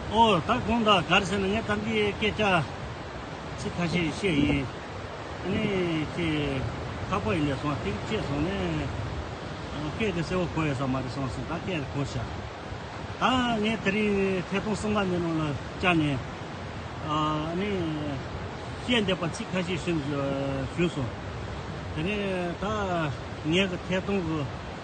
ཨོ། ད་གོང་ད་གར་ཟེར་ན་ངས་གཏམ་གྱི་སྐད་ཆ་ཚིག་ཁ་ཤས་བཤད་ཡིན། ཨ་ནི་ཁྱེད་ཁ་པ་ཡི་ལས་སོང་ཐིག་བཅད་སོང་ནས། སྐད་དེ་གསལ་བོ་གོ་ཡོད་ས་མ་རེད་སོང་ཟིན་ད་སྐད་དེ་གོ་ཤག། ད་ངས་དེ་རིང་ཐད་གཏོང་གསུམ་པ་ནས་ནང་ལ་བཅར་ནས། ཨ་ནི། བཤད་འདོད་པ་ཚིག་ཁ་ཤས་ཞུས་སོང། དེ་ནས་ད་ངས་གི་ཐད་གཏོང་གི།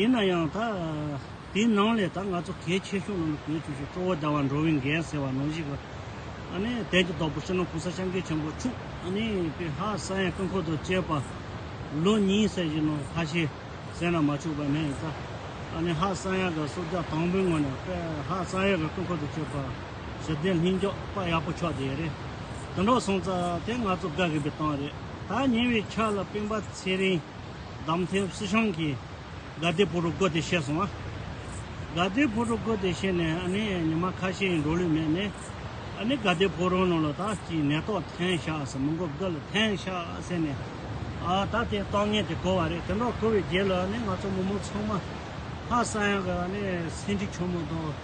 ཡིན་ན་ཡང་ད་དེའི་ནང་ལས་ད་ང་ཚོ་གལ་ཆེ་ཤོས་ནང་ལ་གྱུར་ཆོག་ཤོས་གཙོ་བོ་ཟླ་བ་འགྲོ་བའི་འགན་ཟེར་བ་ནང་བཞིན་གྱི་ནི་དལ་གྱི་རྡོག་པོ་ཕྱི་ནང་གོང་ས་ཤང་ཀེ་ཆེན་པོ་ཕྱུག་ནི་པི་ཧ་ས་ཡན་སྐུ་འཁོར་དང་བཅས་པ་ལོ་གཉིས་ཟེར་བཞིན་ནོ་ཧ་ཤེ་ཟེར་ན་མ་ཆོག་པ་ནི་ད་ནི་ཧ་ས་ཡན་གྱི་བསྲུབ་བྱ་དང་པོའི་ངོས་ནས་པི་ཧ་ས་ཡན་གྱི་སྐུ་འཁོར་དང་བཅས་པ་ཞི་བདེ་ལྷིང་འཇགས་དཔའ་ཡག་པོ་ཆགས་དེ་རེད་དུ་འགྲོ་སོང་ཙང་དེ་ང་ཚོ་དགའ་གི་པའི་གཏམ་རེད་ད་ཉེ་བའི་ཆར་ལ་སྤེན་པ་ཚེ་རིང། འདམ་ཐེབ་བསིལ་ཤང་གི་དགའ་བདེ་བུ་རུ་བཀོད་དེ་བཤད་སོང། དགའ་བདེ་བུ་རུ་བཀོད་དེ་བཤད་ནས་ཨ་ནི་ཉི་མ་ཁ་ཤས་ཡིན་འགྲོ་ལུས་མེད་ནས། ཨ་ནི་དགའ་བདེ་བུ་རུ་ནང་ལ་ད་ཅིའི་ནད་ཐོག་ཐན་ཤ་ཟེར་མི་འགོ་བདུད་ལ་ཐན་ཤ་ཟེར་ནས། ཨ་ད་དེ་ཏོག་ངན་དེ་གོ་བ་རེད་དེ་འདྲ་གོ་བའི་རྗེས་ལ་ཨ་ནི་ང་ཚོ་མི་མང་ཚང་མ་ཧ་ས་ཡང་གི་ཨ་ནི་སེང་ཁྲི་ཆུང་མོ་དང།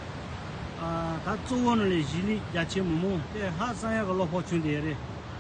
ཨ་ད་གཙོ་བོ་ནི་ལས་གཞི་ལས་རྒྱ་ཆེའི་མི་མང་དེ་ཧ་ས་ཡང་གི་བློ་ཕོགས་ཆུང་དེ་རེད།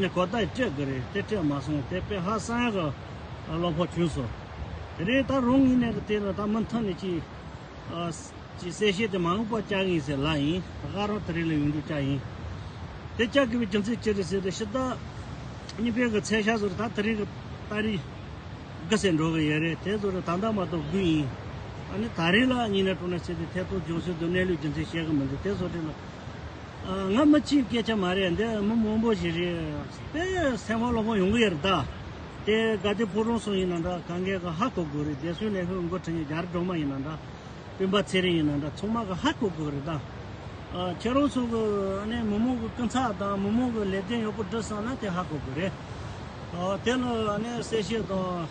ནི་གོ་བརྡ་སྤྲད་དགོས་རེད་དེ་སྤྲད་མ་སོང་དེ་དཔེ་ཧ་སང་གི་བློ་ཕོག་བྱུང་སོང་དེ་རིང་ད་རུང་ངེད་གནས་ཀྱི་དེ་ལ་ད་མུ་མཐུད་ནས་ཀྱི་ཀྱི་གསལ་བཤད་དེ་མང་པོ་བསྐྱང་ངེས་ཟེར་ལ་ཡིན་ཧ་རང་དེ་རིང་ལ་ཡོང་རྒྱུ་བསྐྱང་ཡིན་དེ་བསྐྱང་དགོས་པའི་རྒྱུ་མཚན་ཅི་རེད་ཟེར་དུས་ཕྱི་ཟླ་གཉིས་པའི་གི་ཚེས་ཤ་ཟུར་ད་དེ་རིང་གི་ད་རེས་དགུ་ཟེར་འགྲོ་གི་ཡོད་རེད་དེ་ཟུར་ད་ཟླ་མ་གཏོགས་དགུ་ཡིན་ཨ་ནི་ད་རེས་ལ་གཉིས་ནས་དྲུག་ནས་ཟེར་དུས་ཐད་གཏོགས་ལྗོངས་ཟུར་དུ་གནས་ལུགས་རྒྱུ་མཚན་བཤད་གི་མི་འདུག་དེ་ཟུར་དེ་ལ། ང་མི་གཅིག་སྐད་ཆ་མ་རེད་འདི་མི་མང་པོ་ཞིག་རེད། དེ་སེམས་ཁོང་ལོག་པོ་ཡོང་གི་ཡོད་རེད་ད། དེ་ག་དུས་ཕོ་བྲང་སོགས་ཡིན་ན་འདྲ་གངས་རྒན་གི་ཧ་གོ་དགོས་རེད་རྒྱལ་སྲུང་ལས་ཤོར་མགོ་ཁྲིད་རྒྱ་རི་གྲོང་མ་ཡིན་ན་འདྲ། སྤུན་པ་ཚེ་རིང་ཡིན་ན་འདྲ་ཚང་མ་གི་ཧ་གོ་དགོས་རེད་ད། ཁྱེད་རང་ཚོ་གི་མི་མང་གི་སྐུ་ཚབ་དང་མི་མང་གི་ལས་དོན་ཡག་པོ་སྒྲུབ་བསམ་ན་དེ་ཧ་གོ་དགོས་རེད། དེ་ལ་གསལ་བཤད་དང།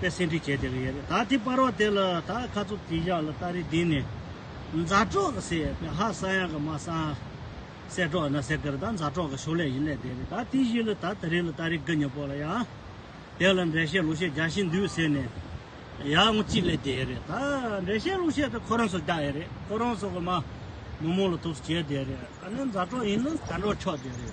པས་སེ་འབྲི་བྱས་དེ་གི་ཡེ་རེ་ད་དེ་སྤར་རོ་དེ་ལ་ད་ཁ་ཚུབ་དེ་བཞག་ལ་སྟ་རེ་འདི་ནས་མཛའ་གྲོགས་གི་སེ་པས་ཧ་ས་ཡང་གི་མ་སང་སེ་གྲོགས་ཡིན་ན་སེ་གི་རེ་ད་མཛའ་གྲོགས་གི་ཞོ་ལས་ཡིན་ལས་དེ་རེ་ད་དེ་བཞི་ལ་ད་དེ་རེ་ལ་སྟ་རེ་གི་ཉེ་པོ་ལ་ཡང་དེ་ལ་འགྲེལ་བཤད་ལུགས་བཤད་རྒྱ་ཤིན་འདུས་ཟེར་ནས་ཡང་ངོ་གཅིག་ལས་དེ་རེ་ད་འགྲེལ་བཤད་ལུགས་བཤད་དེ་ཁོ་རང་སོ་རྒྱ་ཡེ་རེ་ཁོ་རང་སོ་གི་མ་མོ་མོ་ལ་ཐུགས་སུ་བྱས་དེ་རེ་ཨ་ནི་མཛའ་གྲོགས་ཡིན་ན་མཛའ་གྲོགས་ཆོག་དེ་རེ།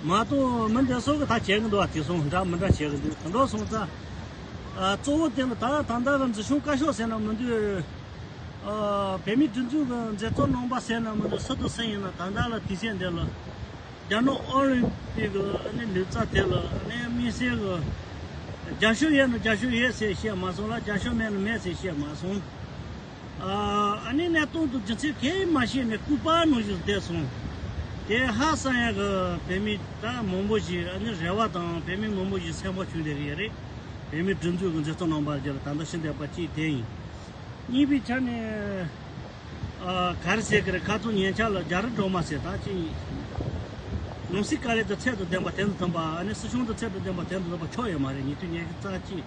མ་གཏོགས་མི་འདི་སོགས་ཀྱིས་ད་བྱེད་ཀྱི་འདུག་བ་དེ་སོང་འདྲ་མི་འདྲ་བྱེད་ཀྱི་འདུག་དོན་དག་སོང་ཙང། གཙོ་བོ་དེ་ནི་ད་ད་ལྟ་གི་འཛིན་སྐྱོང་བཀའ་ཤག་ཟེར་ན་མི་འདི། བོད་མིའི་སྒྲིག་འཛུགས་ཀྱི་མཛད་གཙོ་རྣམ་པ་ཟེར་ན་མི་འདི་སུ་དང་སུ་ཡིན་ན་ད་ལྟ་ལ་དུས་ཆེན་འདི་ལ། རྒྱ་ནག་ཨོ་ལིམ་པིག་གི་ནི་ལུས་རྩ་དེ་ལ་ནི་དམིགས་བསལ་གྱི། རྒྱ་ཤོ་ཡོད་ན་རྒྱ་ཤོ་ཡོད་ཟེར་བཤད་མ་སོང་ལ་རྒྱ་ཤོ་མེད་ན་མེད་ཟེར་བཤད་མ་སོང། ཨ་ནེ་གནས་སྟོང་དུ་རྒྱུ་ཚིག་གེ་མ་ཤེས་ནས་སྐུ་པར་ནང་བཞིན་བསྡད་སོང། དེ་ཧ་སང་ཡང་གི་བོད་མི་ད་མང་པོ་ཞིག་ཨ་ནེ་རེ་བ་དང་བོད་མི་མང་པོ་ཞིག་སེམས་བག་ཆུང་དེ་གི་ཡ་རེད། བོད་མི་སྒྲིག་འཛུགས་གི་མཛད་གཙོ་རྣམ་པར་རྒྱལ་ལ་ད་ལྟ་ཤི་འདས་པ་གཅིག་དེ་ཡིན། གཉིས་པའི་ཆ་ནས། ག་རེ་ཟེར་གི་རེད་ཁ་ཐུག་ཉན་ཆ་ལ་རྒྱ་རི་སྒྲོག་མ་ཟེར་ད་ཅི་ཡིན། ནང་སྲིད་དཀའ་ལས་དང་ཚད་དུ་ལྡན་པ་དེ་འདྲ་ཐོན་པ་ཨ་ནེ་སྲིད་གཞུང་དང་ཚད་དུ་ལྡན་པ་དེ་འདྲ་ཐོན་པ་ཆོ་ཡ་མ་རེད་ཉེ་དུས་ཉེ་གི་རྩ་གཅིག།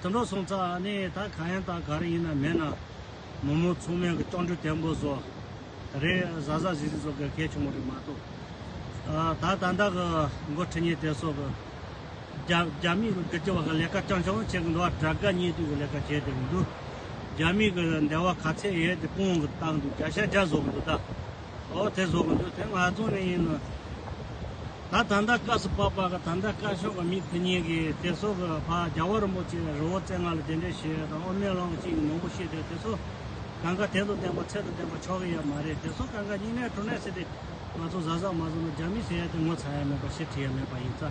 དོན་གྲོགས་སོང་ཙང་ནི་ད་གང་ཡང་དང་ག་རེ་ཡིན་ན་མེད་ན། མོ་མོ་མཚུངས་མེད་ཀྱི་སྤྲང་ཕྲུག་དེ་འབོ་བཟོ། ད་རེས་བཟའ་བཟའ་བཟི་བཟི་བཟོ་དགོས་གལ་བྱུང་བ་རེད་མ་གཏོགས། ད་ད་ལྟ་གི་མགོ་ཁྲིད་གཉེར་དེ་སོགས་ཀྱི། རྒྱ་མིས་བསྒྱུར་བཅོས་བ་གི་ལས་ཀ་ཅང་ཅང་བོ་བྱེད་ཀྱི་འདུག་བ་དྲ་དགའ་གཉེན་སྡུག་གི་ལས་ཀ་བྱས་བསྡད་མི་འདུག་རྒྱ་མིས་ཀྱི་འདས་བ་ག་ཚད་ཡས་དེ་སྤུངས་ཀྱི་བཏང་འདུག་བརྒྱ་ཤ་བརྒྱ་བཟོ་གི་འདུག་ད། ཨོ་དེ་བཟོ་གི་འདུག་དེ་ང་ཚོ་ནས་ཡིན་ནོ། ད་ད་ལྟ་སྐབས་སུ་བབ་པ་ག་ད་ལྟ་བཀའ་ཤོག་གི་མི་དེ་གཉིས་ཀྱིས་དེ་སོག་གི་ཕ་རྒྱ་བ་རིན་པོ་ཆེ་རི་བོ་རྩེ་ལྔ་ལ་དེ་འདྲའི་ཞེས་དང་ཨོ་མན་ལོང་གི་གཅིག་ནོར་བུ་ཤེས་དེ་དེ་སོག་གང་ག་དད་དུ་བསྟན་པ་ཚད་དུ་བསྟན་པ་ཆོག་གི་ཡ་མ་རེད་དེ་སོག་གང་ག་སྙིང་ནད་གྲོ་ནད་ཟེར་དེ་ང་ཚོ་བཟའ་ཟ་མ་བཟོ་ན་རྒྱ་མི་ཟེར་ཡ་དེ་ངོ་ཚ་ཡ་མེད་པ་ཞེ་དྲི་ཡ་མེད་པ་ཡིན་ཙ།